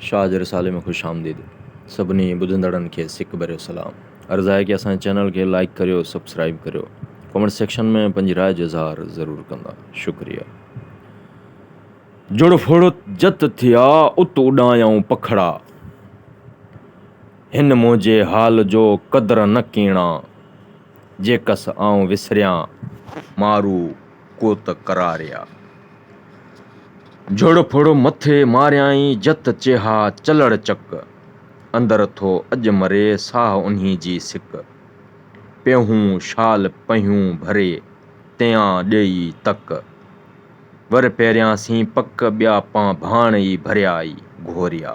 شاهه جي رسالي ۾ خوش آمديد سڀني ٻڌندڙن کي سڪ ڀريو سلام عرض آهي ڪي اسان جي چينل کي لائيڪ ڪريو سبسڪرائيب ڪريو ڪمينٽ سيڪشن ۾ پنهنجي راء جو اظهار ضرور ڪندا شڪريا جڙ ڦڙ جت ٿيا ات اڏايائون پکڙا هن منهنجي حال جو قدر نه ڪيڻا. جيڪس آئون وسريان مارو ڪوت ڪراريا. جھڙ ڦڙ مٿي ماريائين جت چيها چلڙ چڪ. اندر ٿو اڄ مري ساھ انھي جي سڪ. پيهون شال پنھيون ڀري تيان ڏيئي تڪ. ور پيريان سين پڪ ٻيا پان ڀاڻ ئي ڀريا ئي گھوريا.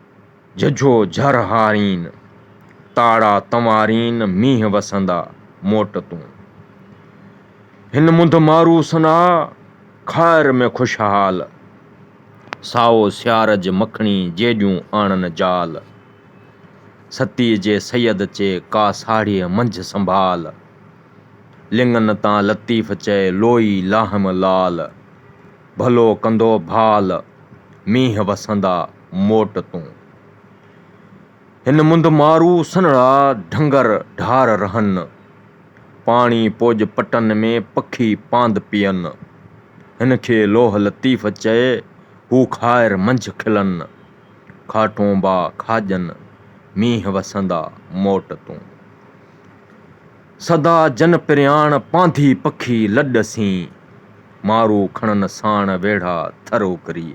جھجھو جھر ھارين، تاڙا تنوارين مينھن وسندا موٽ تون. ھن منڌ مارو سنا، خائر ۾ خوشحال. سائو سيارج مکڻي جيڏيون آڻن جال. ستيء جي سيد چي ڪا ساڙھيء منجھ سنڀال. لڱن تان لطيف چئي لوئي لاھيم لال. ڀلو ڪندو ڀال، مينھن وسندا. موٽ تون. هن منڌ مارو سنڙا ڍنگر ڍار رهن. پاڻي پوڄ پٽن ۾ پکي پاند پين. هن کي لوهه لطيف چئي هو کائر منجهه کلن. کاٽونبا کاڄن مينهن وسندا موٽ تون. سدا جن پرياڻ پانڌي پکي لڏ سين مارو کڻن ساڻ ويڙها ٿر اوڪري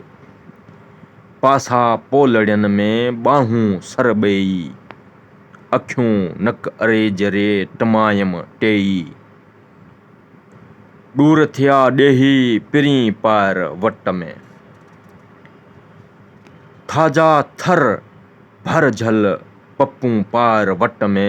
پاسا پولڙين ۾ ٻانهون سر ٻيئي اکيون نڪ اريج ري ٽمايم ٽيئي ڏور ٿيا ڏيهي پرين پائر وٽ ۾ ٿاجا ٿر ڀر جهل پپون پائر وٽ ۾.